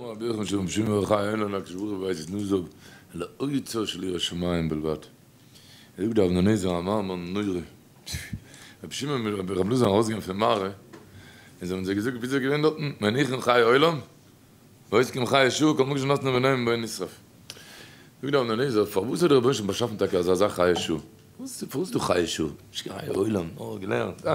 אמר רבי יוחנן שלום שמעון בר יוחאי אין אן הקדוש ברוך הוא ווייסט נישט זאג אלא אוצר של יראת שמים בלבד ער זאגט דארף מען עזר א מאמר נורא רבי שמעון מיט רבי רב לוזין ארויסגעגאנגען פון מערה און זיי האבן זיי געזאגט וויאזוי איז געווען דארטן מען איך און חיי עולם ועוסקים חיי שעה כל מוקש נתנו ונעים בו נשרף זאגט דער אבנר-נזר פארוואס האט דער רבונו של עולם באשאפן טאקע אזא זאך חיי שעה פארוואס איז דא חיי שעה נישט קיין חיי עולם נאר געלערנט אה.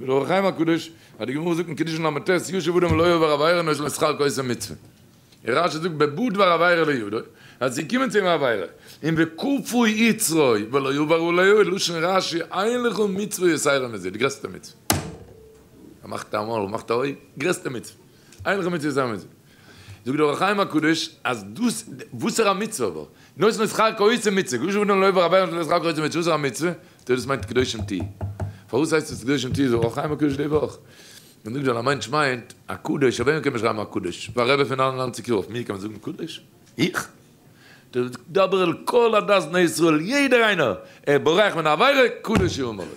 דער אור החיים הקדוש האט די גמרא זאגט אין קידושין למה ט' יושב אדם ולא יעבור עבירה נאר שלא שכר כעושה מצוה. און רשי זאגט בעבור דבר עבירה לא ידעו אז עס איז געקומען צו אים עבירה, און וכפו יצרו ולא יעבור עליו איז לשון רשי אין לך מצוה יסיירא מזה די גרעסטע מצוה. ער מאכט א מויל, מאכט א אויג, גרעסטע מצוה. איינער האט מיר צוזאמענגעזאגט, זאגט דער אור החיים הקדוש, אז דאס, וואסערע מצוה אבער? נאכדעם איז חג קאו איצא מצוה, גאר שוין לעובר אווער און דאס חג קאו איצא מצוה, וואסערע מצוה? טא דאס מיינט קדושים תהיו. פארוואס הייסט עס קדושים תהיו, זאגט אור החיים הקדוש די וואך. און זאגט ווייל א מענטש מיינט, א קדוש, אויף וועמען קען מען שרייבן א קדוש? אויף א רבי פון נײַן און נײַנציק יאר, אויף מיר קען מען זאגן קדוש? איך? טא דאס דבר אל כל עדת בני ישראל, יעדער איינער, ער בורח מן העבירה, קדוש יאמר לו.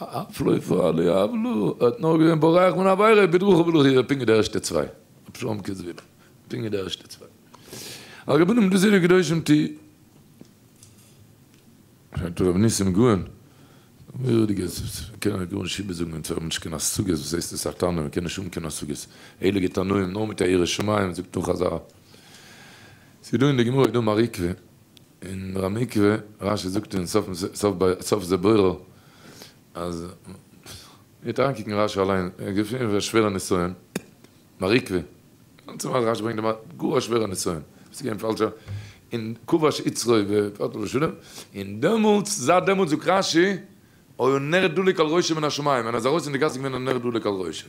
הפלא ופלא לא יהב לו, ער האט נאר געווען בורח מן העבירה בדרכו ולא חיוב פונקט די ערשטע צוויי, רבי שלום קעזוויל, פונקט די ערשטע צוויי. הרבנים דזירא קדושים ט. פרעגט רבי ניסים גאון, מורא'דיגע זאגן, קען ער גארנישט איבערזאגן אונז האבן נישט קיין השגות, וואס הייסט עס א תנא, מ'קען נישט האבן קיין השגות, הייליגע תנאים נאר מיט א ירא שמים, זאגט דא חזרה, ס'איז דא אין די גמרא איז דא מר עקביא. און ר' מקרה, רש י זאגט אין סוף זה בורא אז מ'גייט אריינקוקן אין רש י אליין, ער האט געשריבן א שווערע נסיון, מעריקווע, גאנצע מעשה רש י ברענגט גאר א שווערע נסיון, עס איז געווען פאלשע אין כבש יצרו ופרט ושלם, און דעמאלטס זייט דעמאלטס זאגט רש י היה נר דולק על ראשו מן השמים, ווען ער איז ארויס אין די גאס איז געווען א נר דולק על ראשו.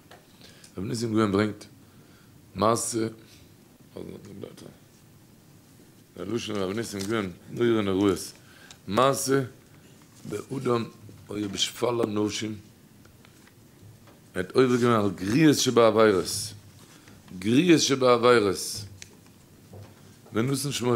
רבי ניסים גאון ברענגט מעשה א לשון רבי ניסים גאון מורה נראות מעשה באדם אויב איש פאל אנשים ער האט עובר געווען על גריעות שבעבירות גריעות שבעבירות ונתן שמו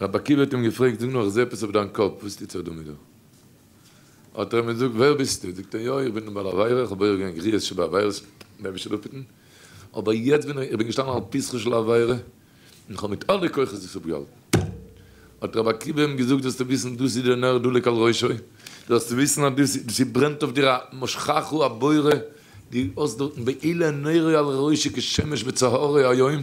רבי עקיבא האט אים געפרעגט, זאג נאר, איך זע עפעס אויף דיין קאפ, וואס טוט זיך דא מיט דיר? האט ער אים געזאגט, ווער ביסטו? זאגט ער, יא, איך בין דער בעל עבירה, איך האב בורח געווען גריעות שבעבירות, דער אייבערשטער זאל אפהיטן, אבער יעצט בין איך, איך בין געשטאנען על פתחה של העבירה, און איך האב מיט אלע כוחות דאס אפגעהאלטן. האט רבי עקיבא אים געזאגט, זאלסטו וויסן, דאס איז דער נר דולק על ראשו, זאלסטו וויסן אז דאס איז, ס'ברענט אויף דיר א משכחו הבורא, דו האסט דארטן בעילה נרו על ראשו כשמש בצהרי היום,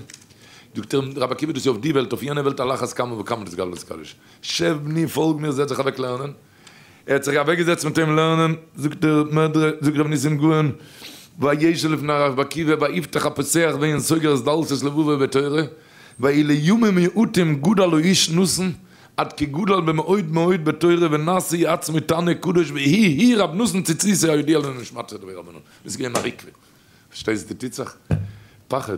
זאגט אים רבי עקיבא דאס איז אויף די וועלט אויף יענע וועלט על אחת כמה וכמה דאס גלות איז קדוש. שב בני פאלג מיר זעץ זיך אוועק לערנען. ער האט זיך אוועק געזעצט מיט אים לערנען זאגט דער מדרש זאגט רבי ניסים גאון וישב לפני רבי עקיבא ויפתח הפותח ואין סוגר את דלתות לבבו בתורה ואילו ימים מעוטים גדל האיש נתן עד כי גדל במאוד מאוד בתורה ונשא עצמו תנא קדוש והי' הי' רבי נתן ציצית היודע לנשמתו דברי רבנן. דאס איז געווען א ריקוד. פארשטייסט די טוט זיך פחד.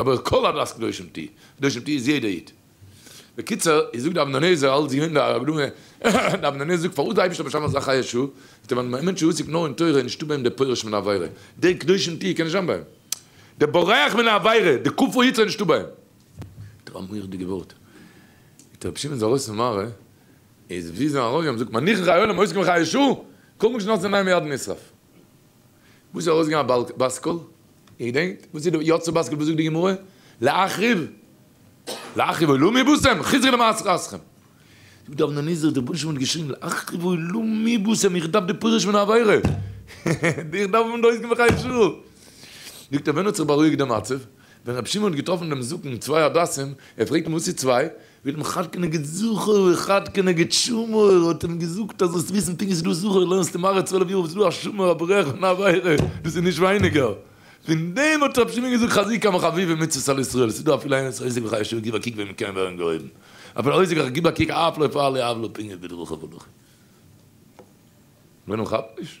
אבער כל הדת קדושים תהי', קדושים תהי' איז יעדער איד. בקיצור, איך זאג די אבן הנזר אלץ יונגע הרב לוי, די אבן הנזר זאגט פארוואס די אייבערשטער באשאפן אזא חיה שוא, איז ווייל ווען א מענטש איז עוסק נאר אין תורה איז נישטא ביי אים דער פורש מן העבירה, דער קדושים תהי' קען נישט זיין ביי אים, דער בורח מן העבירה, דער כופר יצר איז נישטא ביי אים. מיט אזא מורא'דיגע ווארט איז רבי שמעון איז ארויס פון מערה, איז ווי זיין רבי האט געזאגט מניחין חיי עולם עוסקין בחיה שוא, כל מוקשן נאסן עיניים מיד נשרף. וואס איז ארויס געגאנגען א בת קול? איר געדענקט? וואס איז דא יצא בת קול? וואס זאגט די גמרא? להחריב להחריב עולמי בושם חזרי למעשך אסכם. דא דארף מען נזהר, דער רבונו של עולם האט געשריגן להחריב עולמי בושם איך דארף די פירוש פון העבירה, איך דארף אים דא אויסגעבן פאר חצי שעה. זאגט ער ווען האט זיך בארואיגט די מצב? ווען רבי שמעון האט געטראפן דעם זקן צוויי הדסים, ער פרעגט אים וואס איז צוויי? ווערט אים חד כנגד זכור וחד כנגד שמור, האט אים געזאגט אז זאלסט וויסן פונקט ווי ס'איז דא זכור לערנסטו מראה צוועלף יאר ווי ס'איז דא א שמור א ברעך און א עבירה, דאס איז נישט ווייניגער. פון דעם האט רבי שמעון געזאגט חזי כמה חביבים מצוות על ישראל, ס'איז דא אפילו איינער וואס עוסק בחיי שעה גיב א קוק ווען מ'קען ווערן געהויבן, אפילו עוסק בחיי גיב א קוק אף לא יפעל לי עוולה פינגער בדרכיו הלכי. ווען ער כאפט נישט.